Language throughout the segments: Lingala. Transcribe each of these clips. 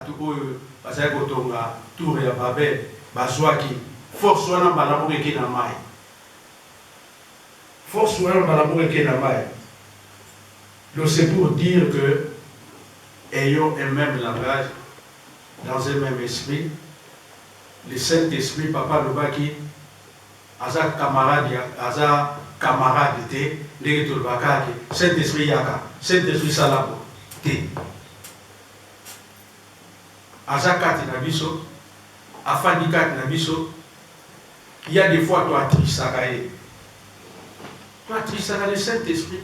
Bato oyo bazalaki kotonga Tour ya Babel bazwaki force wana mbala moko eke na mayi. Force wana mbala moko eke na mayi. Donc c'est pour dire que ayons un meme langage dans un meme esprit. Le Saint Esprit, Papa alobaki aza camarade ya aza camarade te ndenge tolobaka kaka ke Saint Esprit yaka, Saint Esprit sala boye te. aza kati na biso afandi kati na biso ya de fois to atrisaka ye to atrisaka le saint esprit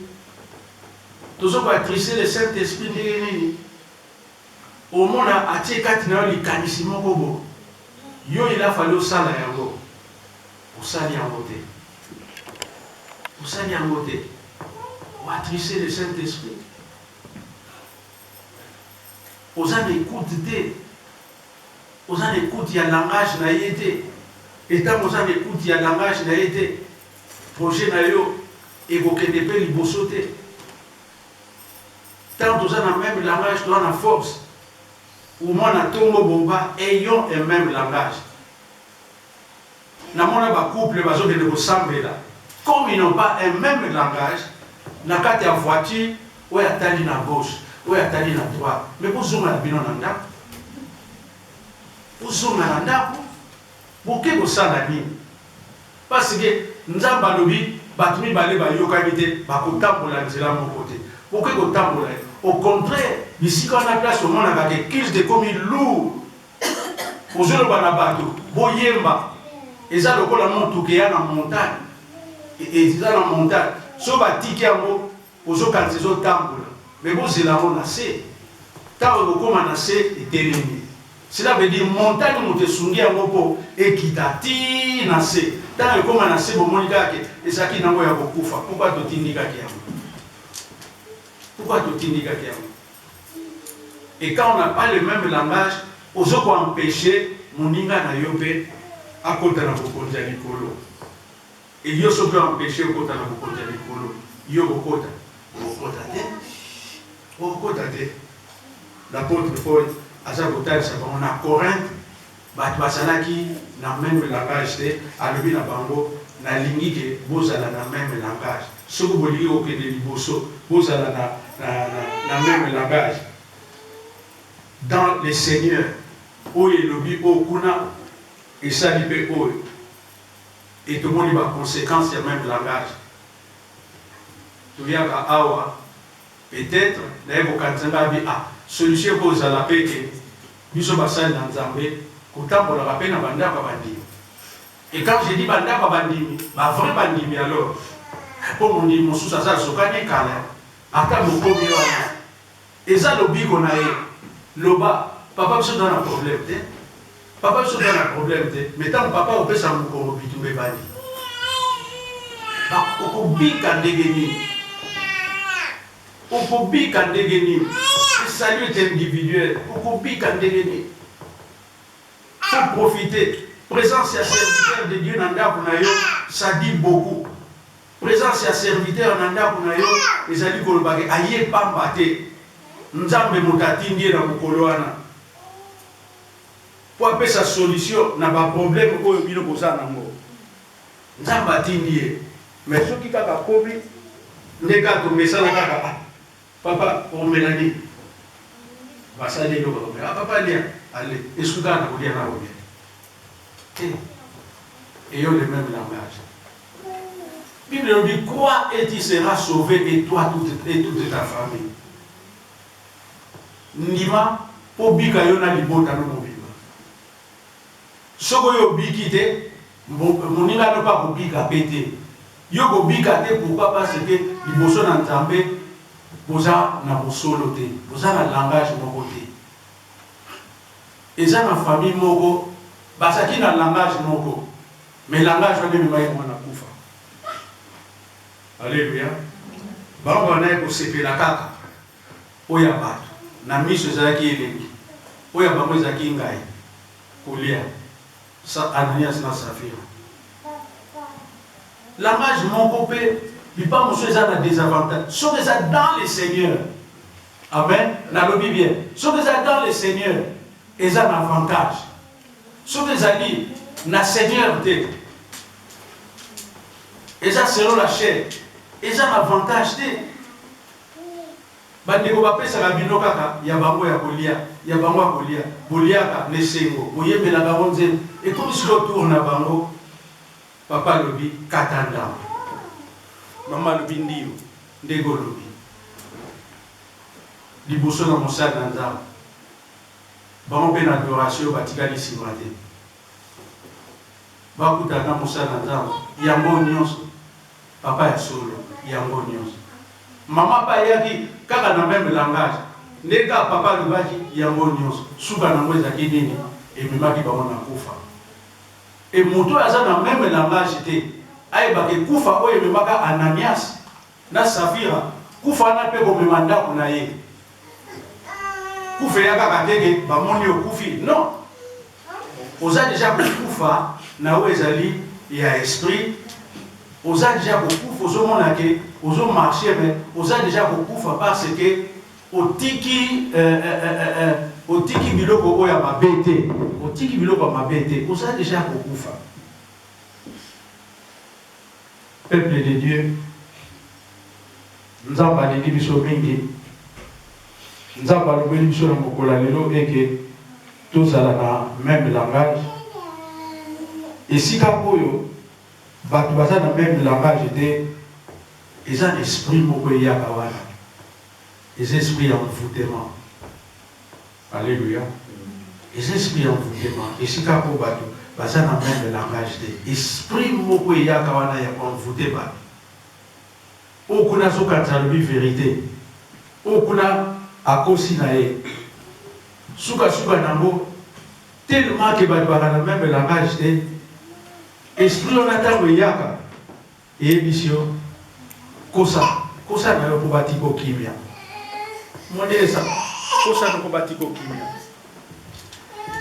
tozo ko atriste le saint esprit ndenge nini omona atie kati na yo likanisi moko bo yo il a fallu osala yango osali yango te osali yango te oatriste le saint esprit Oza na ecoute te, oza na ecoute ya langage na ye te et tango oza na ecoute ya langage na ye te, projet na yo ekokende pe liboso te. Tango toza na meme langage toza na force. Umwana tongo boba ayons un meme langage. Na mona ba couple bazo kende ko sambela comme ils n'ont pas un meme langage na kati ya voiture oyo atali na gauche oyo atali na droite mais bo zonga na bino na ndaku bo zonga na ndaku boke ko sala nini parce que nzambe alobi batu mibale ba yokani te ba ko tambola nzela moko te boke ko tambola au contraire bisika wana place omonaka ke culte ekomi lourd Ozo loba na batu bo yemba eza lokola mutuka eya na montagne eza na montagne soki ba tiki yango ozo kanisa ezo tambola mais bo zela yango na se tango eko koma na se etelemi cela veut dire montagne mutu esungi yango po ekita ti na se tango ekoma na se bo moni kaka ke ezalaki na yango ya ko kufa pourquoi to tindikaki yango pourquoi to tindikaki yango Et quand on n'a pas le meme langage, ozo ko empecher moninga na yo mpe akota na bokonzi ya likolo. Et yo soki o empecher okota na bokonzi ya likolo, yo okokota? Okokota te. Okokota te. L'Apotre Paul aza kotalisa bango na Corinthe, Bato bazalaki na meme langage te, alobi na bango nalingi ke bozala na meme langage, soki bolingi kokende liboso bozala na na meme langage dans le seigneur, oyo elobi oyo kuna esali pe oyo et tomoni ba consequences ya meme langage, toyaka awa. Peut etre naye kokanisa nga abi ah solution eko zala pe ke biso basali na nzambe kotambolaka pe na ba ndako ya bandimi et quand je dis ba ndako ya bandimi ba vrai bandimi alors eh po mondimi mosusu aza azokani kala ata mokomi wana eza lobiko naye loba papa biso toza na problème te. Papa biso toza na problème te mais tango papa opesa mukongo bitumba ebandi okobika ndenge nini okobika ndenge nini esali ete individuel okobika ndenge nini faut profiter présence ya serviteur de dieu na ndako na yo ça dit beaucoup présence ya serviteur na ndako na yo ezali koloba ke aye pamba te nzambe moto atindi ye na mokolo wana po apesa solution na ba probleme oyo bino boza na ngo nzambe atindi ye mais soki kaka akomi nde kaka tomesana kaka ah papa omela nini basali eloko akomela ah papa lia ale esuki kaka na kolia na olia te eyo le meme langage Bible nous dit crois et tu seras sauvé et toi toute, et toute ta famille ndima po bika yo na libota no mobimba soki oyo obiki te moninga no pe akobika pe te yo kobika te pourquoi pas ce que liboso na nzambe boza na bosolo te boza na langage moko te eza na famille moko bazaki na langage moko mais langage wana ememaki bango na kufa Alleluia bango ba bandaki kosepela kaka oyo ya batu na misu ezalaki elengi oyo ya bango ezalaki ngayi kolia sa Ananias na Safira langage moko pe bipa mosusu eza na desavantage soki eza dans le seigneur amen nalobi bien soki eza dans le seigneur eza na avantage soki ezali na seigneur te eza selon la chair eza na avantage te bandeko bapesaka bino kaka ya bango ya kolia ya bango ya kolia boliaka na esengo boyembela bango nzembo ekomi silo tour na bango papa alobi kata ndambo mama alobi ndiyo ndenge olobi liboso na mosali na nzambe bango mpe na adoration batikali nsima te bakutana na mosali na Nzambe yango nionso papa ya solo yango nionso maman pe ayaki kaka na meme langage nde kaka papa alobaki yango nionso suka nango ezalaki nini ememaki bango na kufa et moto oyo aza na meme langage te ayebake kufa oyo ememaka Ananias Na Safira kufa wana pe komema ndaku na ye kufa eya kaka te ke ba moni okufi non oza deja kokufa na yo ezali ya esprit oza deja kokufa ozo mona ke ozo marche mais oza deja kokufa par ce que otiki eh eh eh eh eh otiki biloko oyo ya mabe te otiki biloko ya mabe te oza deja kokufa. Peuple de Dieu Nzambe alingi biso mingi, Nzambe alobeli biso na mokolo ya lelo et que tozala na meme langage. Esika oyo batu baza na meme langage te, eza na esprit moko eyaka wana, eza esprit ya envoutement. Alleluia eza esprit ya envoutement esika po batu baza na meme langage te esprit moko eyaka wana ya ko envoute batu oyo kuna azo kanisa alobi verite oyo kuna akosi na ye suka suka nango tellement que batu baka na meme langage te esprit wana tango eyaka Eyebisi yo kosa kosa nayo po batiko kimia monesa kosa noko batiko kimia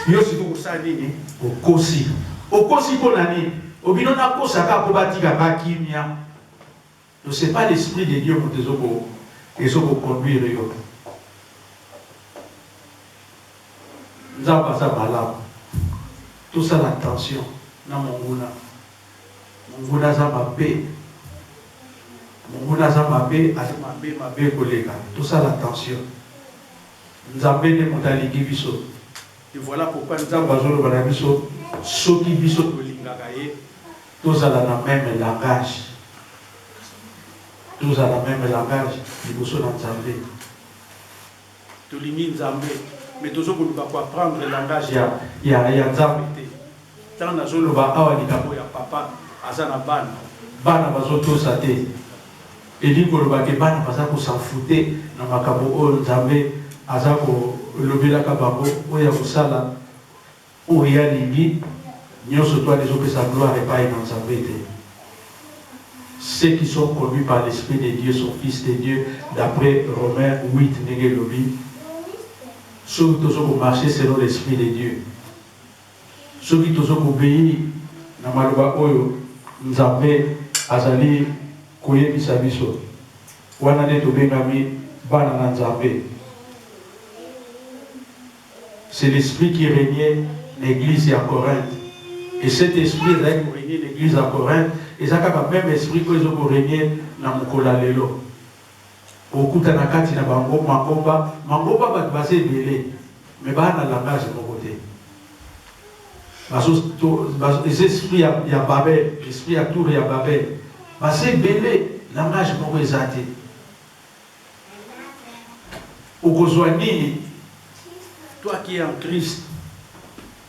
yo siko kosala nini okosi okosi po na nini obino na kosa ka po batika nga kimia no c'est pas l'esprit de Dieu moto ezo ko ezo ko conduire yo nzambe aza malamu tosala attention na monguna. Monguna aza mabe monguna aza mabe aza mabe mabe koleka tosala attention nzambe nde moto alingi biso et voila pourquoi nzambe azoloba na biso soki biso tolingaka ye tozala na meme langage tozala meme langage liboso na nzambe Tolingi nzambe mais tozo koluka ko apprendre langage ya ya ya nzambe te tant nazo loba awa likambo ya papa aza na bana bana bazo tosa te elingi koloba ke bana baza ko s'enfoute na makambo oyo nzambe aza ko lobelaka bango oyo ya kosala Oyo ye alingi nionso to wana ezopesa gloire epayi na Nzambe te. Ceux qui sont conduits par l'esprit de Dieu sont fils de Dieu d'après Romains huit ndenge elobi. Soki tozo ko marcher selon l'esprit de Dieu, soki tozo ko obeir na maloba oyo Nzambe azali koyebisa biso, wana nde tobengami bana na Nzambe. c'est l'esprit qui regnait na eglise ya Corinthe et cet esprit ezalaki ko regner na eglise ya Corinthe eza kaka meme esprit oyo ezo ko regner na mokolo ya lelo. Okokuta na kati na bango mangomba, mangomba batu baza ebele mais baa na langage moko te. Bazo to bazo eza esprit ya ya Babel, esprit ya tour ya Babel. Baza ebele langage moko eza te. Okozwa nini, toi qui es en Christ?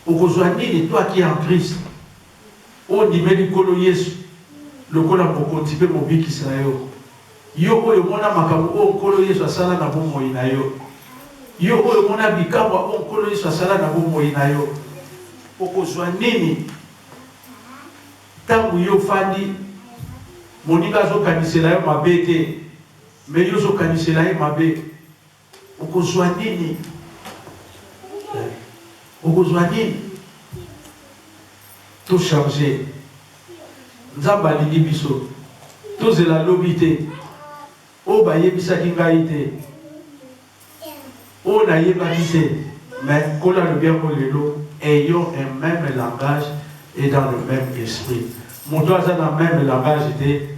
Okozwa nini, toi qui es en Christ? Oyo ondimeli Nkolo Yesu lokola Mokonzi mpe Mobikisi na yo, yo oyo omona makambo oyo Nkolo Yesu asala na bomoi na yo, yo oyo omona bikamwa oyo Nkolo Yesu asala na bomoi na yo, okozwa nini ntango yo ofandi, moninga azokanisela yo mabe te? Mais yo ozo kanisela ye mabe okozua nini eh okozua nini to changer nzambe alingi biso tozela lobi te oyo ba yebisaki ngai te oyo na yebaki te mais nkolo alobi yango lelo ayons un meme langage et dans le meme esprit moto aza na meme langage te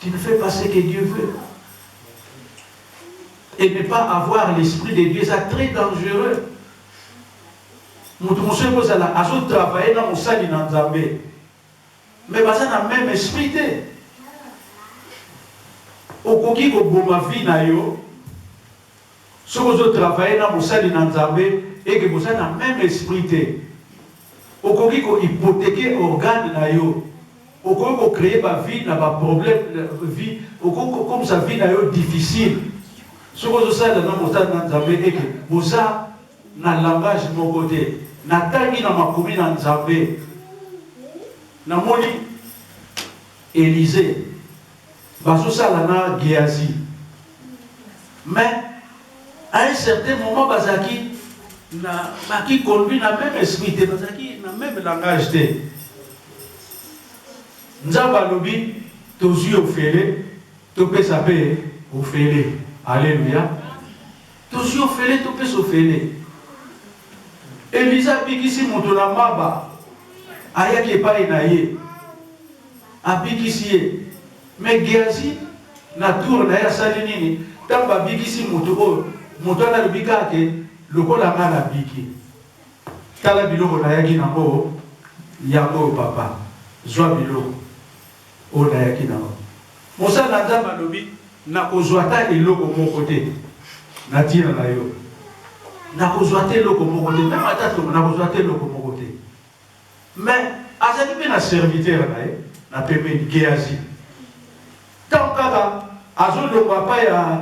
Tu ne fais pas ce que Dieu veut et ne pas avoir l'esprit de Dieu eza très dangereux moto mosusu ekozala azotravaille na mosali na nzambe me baza na meme esprit te okoki koboma vie na yo Soki ozo travailler na mosali na Nzambe et que boza na meme esprit te, okoki ko hypothequer organe na yo, okoki ko creer ba vie na ba problème, vie, okoki ko komisa vie na yo difficile soki ozo salela na mosali na Nzambe et que boza na langage moko te. Na tangi na makomi na Nzambe, na moni Elisee, Bazo sala na geazi mais a un certain moment bazalaki na baki conduit na meme esprit te bazalaki na meme langage te nzambe alobi tozwi ofele topesa mpe ofele aleluya Tozwi ofele topesa ofele. Eliza abikisi moto na maba, ayaki epai na ye, abikisi ye. Me Geazi na tour na ye asali nini ntango abikisi moto oyo? Moto wana alobi kaka ke lokola ngai nabiki, tala biloko nayaki nango, yango oyo papa, zwa biloko. Oyo nayaki na yango. Mosali na Nzambe alobi, Nakozwa ata eloko moko te na tina na yo. Nakozwa ata eloko moko te, meme ata tongo, nakozwa ata eloko moko te. Mais, azali pe na serviteur na ye na pembeni, Gehazi. Tango kaka azolongwa epai ya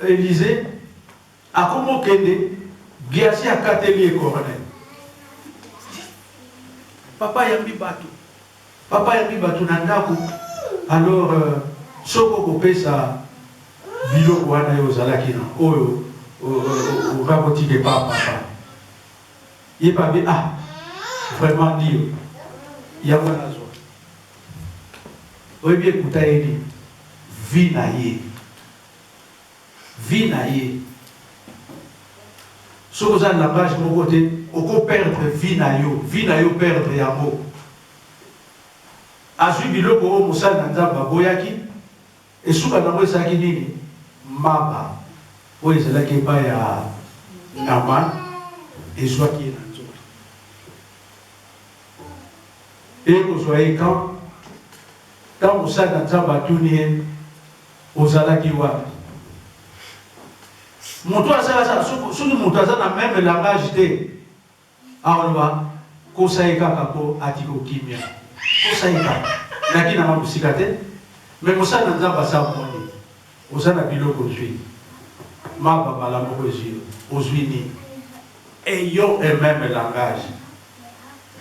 Elize, Akomi okende, Biace akateli ye coronel. Papa ayambi batu, papa ayambi batu na ndaku, alors soki oko pesa biloko wana yo ozalaki na oyo okoki kotika epa papa. Ye papa abi ah vraiment ndio yango wana azua. Oyebi ekuta ye nini? Vie na ye. vie na ye soki oza na langage moko te oko perdre vie na yo vie na yo perdre yango azui biloko oyo mosali na nzambe aboyaki esuka nango ezalaki nini maba oyo ezalaki epai ya naman ezwaki ye na nzoto ekozwa ye kan ntango mosali na nzambe atuni ye Ozalaki wapi? Moto aza aza soki moto aza na meme langage te akoloba kosa ye kaka po ati ko kimia kosa ye kaka naki nanga mosika te mais mosali na nzambe asa moni oza na biloko ozui maba mbala moko ezui yo ozui nini ayons un meme langage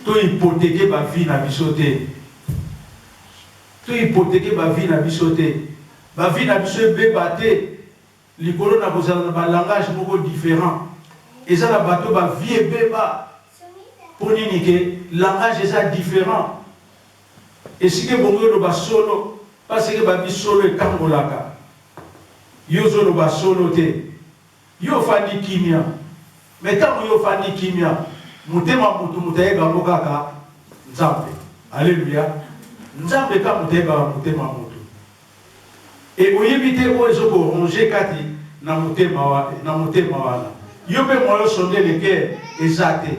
to hypothequer ba vie na biso te To hypothequer ba vies na biso te. Ba vies na biso ebeba te likolo na kozala na ba langages moko differents. Eza na bato ba vie ebeba mpo nini que langage eza different. Esika ebongi oloba solo parce que babi solo etangolaka. Yo ozo loba solo te. Yo ofandi kimia mais tango yo ofandi kimia motema mutu mutu ayeba yango kaka nzambe alleluia nzambe kaka mutu ayebaka motema mutu et oyebi te oyo ezo ko ronger kati na motema wana yo pe moyen osonde le coeur eza te.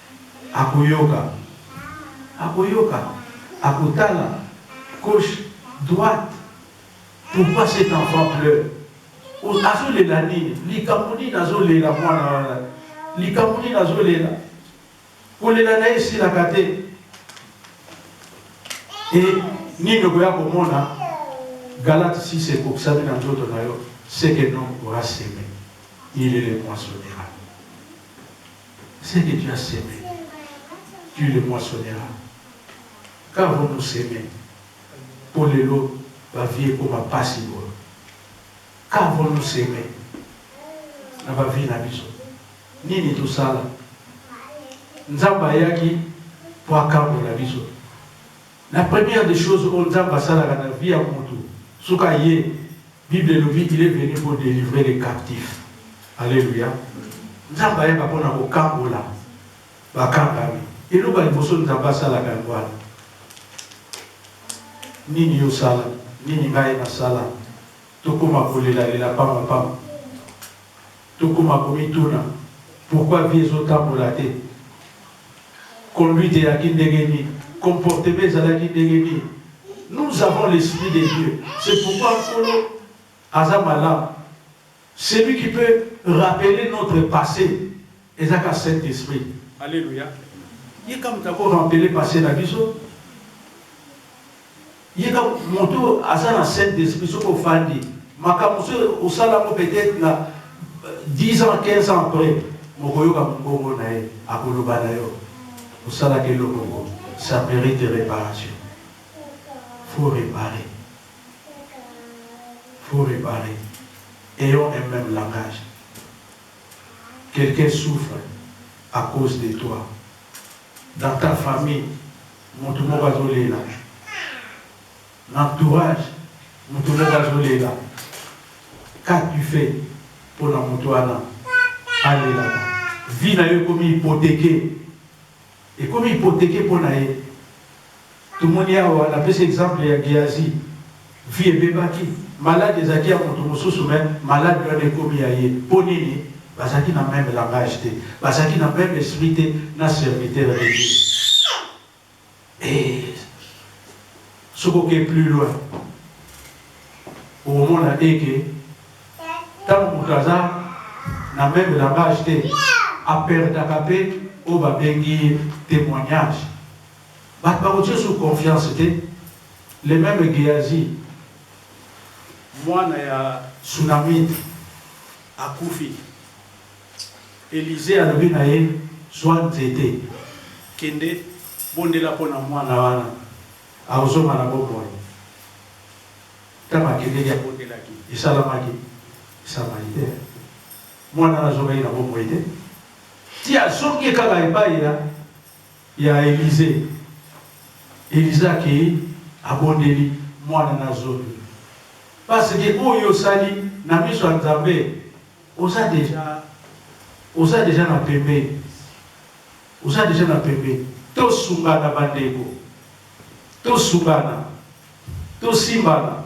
Akoyoka, akoyoka, akotala gauche, droite, pourquoi cet enfant pleure? Azo lela nini? Likambo nini azo lela mwana wana? Likambo nini azo lela? Kolela na ye esilaka te. E nini okoya komona? Galate 6 ekokisami na nzoto na yo, ce que l'homme aura seme, il le moissonnera. ce que tu as seme tu le moissonera qu'avons nous seme po lelo ba vie ekoma pasi boye qu'avons nous seme na ba vie na biso nini tosala nzambe ayaki po akambola biso La première des choses oyo nzambe asalaka na vie ya mutu suka aye bible elobi il est venu pour delivrer les captifs alleluia nzambe ayaka pona kokangola bakangami eloko ya liboso nzambe asalaka yango wana nini yo sala nini ngai nasala tokoma kolelalela pamba pamba Tokoma komituna pourquoi vie ezo tambola te? Conduite eyaki ndenge nini? Comportement ezalaki ndenge nini? Nous avons l'esprit de Dieu c'est pourquoi Nkolo aza malamu celui qui peut rappeler notre passe eza kaka Saint Esprit. Alleluia. Ye kaka mutu ako rampeler passe na biso. Ye donc mutu oyo aza na saint d'esprit soki ofandi makambu mosusu oyo osala yango peut etre na 10 ans 15 ans après mokoyoka mungongo na ye akoloba na yo osalaka eloko ngo ça merite reparation faut reparer faut reparer ayons un meme langage quelqu'un souffre à cause de toi dans ta famille Mutu moko azo lela na entourage mutu moko azo lela qu'a tu fait pona mutu wana alelaka vie nayo ekomi hypotheque ekomi hypotheque pona ye tomoni awa napesi exemple ya geazi. Vie ebebaki, malade ezalaki ya mutu mususu mais malade wana ekomi ya ye, po nini? Bazalaki na meme langage te, bazalaki na meme esprit te na serviteur de Dieu eeh soki oke plus loin okomona te ke tangu mutu aza na meme langage te a perdaka pe oyo babengi temoignage, batu bakotiyo sur confiance te, Le meme Gehazi, mwana ya Sunamite akufi, Elisee alobi na ye, zwa nzete, kende, bondela mpo na mwana wana akozonga na bomoi. Ntango akendeki, abondelaki, esalamaki. Samaritain, mwana wana azongaki na bomoi te, ti azongi kaka epai ya. Ya Elize. Elize akeyi, abondeli, Mwana na zomi. Parce que oyo yo osali na miso ya Nzambe, oza dejà, oza dejà na pembeni. Oza dejà na pembeni. Tosungana ba ndeko. Tosungana. Tosimbana.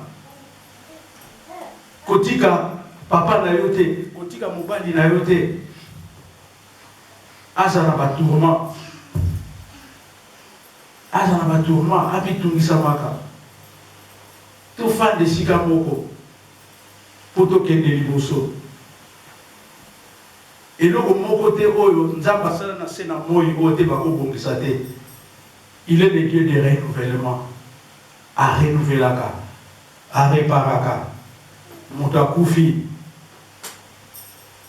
Kotika papa na yo te. Kotika mobali na yo te. Aza na ba tourment aza na ba tourment ami tungisamaka to fanda esika moko po to kende liboso eloko moko te oyo nzambe asala na se na moyi oyo te bako bongisa te il est le dieu de renouvellement a renouvelaka a reparaka moto akufi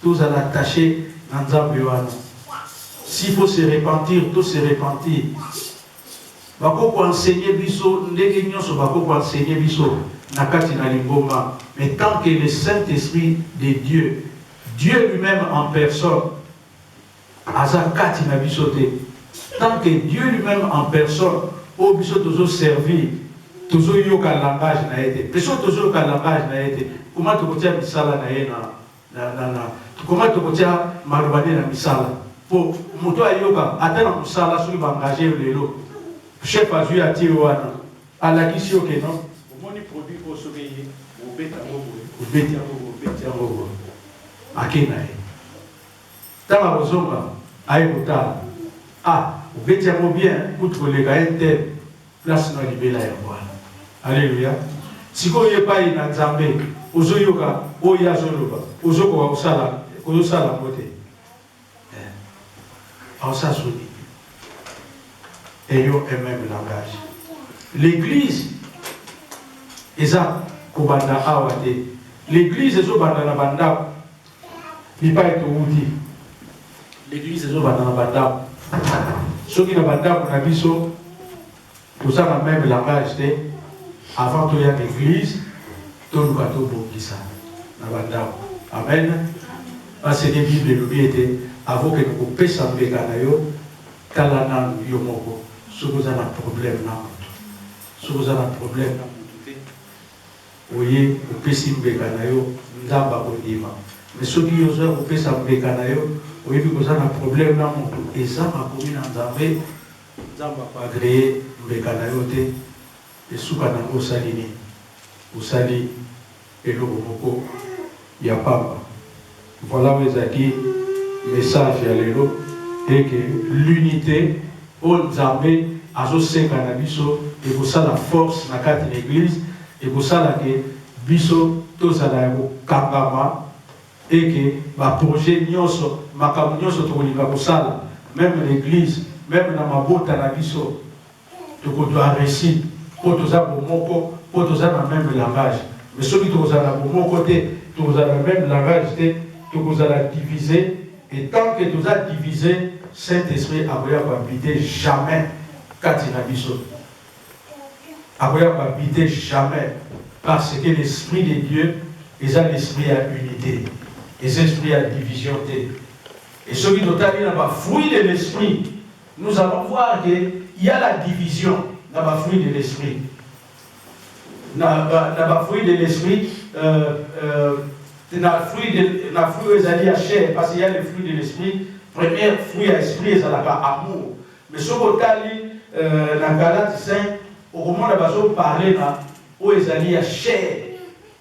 Tozala attache na nzambe wana s'il faut se repentir to se repentir ba ko ko enseigner biso ndenge nionso ba ko ko enseigner biso na kati na lingomba mais tant que le saint esprit de Dieu Dieu lui meme en personne aza kati na biso te tant que Dieu lui meme en personne oyo biso tozo servir tozo yoka langage na ye te pe soki tozo yoka langage na ye te comment toko tia misala na ye na Na, na, na, comment tokotia maloba nde na misala po moto ayoka ata na mosala soki ba engage yo lelo chef azui yo atie yo wana alakisi yo ke non omoni produit oyo soki eye obeta yango boye obeti yango boye obeti yango boye ake na ye tango akozonga aye kotala ah obeti yango bien kutu koleka ye te. Place no ya libela yango wana. Alleluia. Sikoyo oye epayi na Nzambe, ozo yoka oyo ye azo loba, ozo koka kosala, ozo sala yango te. Eh. En sa soni. Ayons un même langage. L'église eza kobanda awa te. L'église ezo banda na bandako. Bipai towuti, l'eglise ezo vanda na ba ndaku. Soki na ba ndaku na biso toza na meme langage te, avant toya na eglise toluka tobongisa na ba ndaku. Amen. Parce que bible elobi ete avant okende kopesa mbeka na yo, tala nanu yo moko soki oza na probleme na mutu. Soki oza na probleme na mutu te. Oye opesi mbeka na yo nzambe akondima mais soki yo ozo ya kopesa mbeka na yo oyebi koza na probleme na mutu eza makomi na nzambe nzambe ako agree mbeka na yo te esuka na ngo osali nini osali eloko moko ya pamba. Voilà oyo ezalaki message ya lelo et que l'unite oyo Nzambe azo senga na biso ekosala force na kati na eglise, ekosala que biso tozala ya kokangama et que ba projets nionso, makambo nionso tokolinga kosala meme na eglise, meme na mabota na biso, Toko zua reussite po toza bomoko, po toza na meme langage. Mais soki toko zala na bomoko te, toko zala na meme langage te, toko zala divise et tant que toza divise, Saint Esprit akoya ko habite jamais kati na biso. Akoya ko habite jamais parce que l'Esprit de Dieu eza l'Esprit ya unite, eza Esprit ya division te. Et soki totali na ba fruits de l'Esprit, Nous allons voir que il ya la division na ba fruits de l'esprit na ba na ba fruits de l'esprit euh, euh, na fruit de na fruit oyo ezali ya chair parce qu'il y a le fruit de l'esprit premier fruit ya esprit ezalaka amour mais soki otali euh, na galate 5 okomona bazoparle na oyo ezali ya chair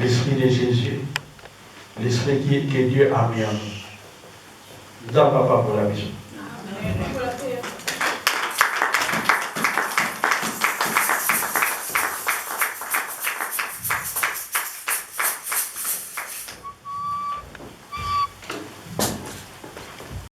L'esprit de Jesus, l'esprit qui que Dieu a mis en nous. Nzambe apambola biso.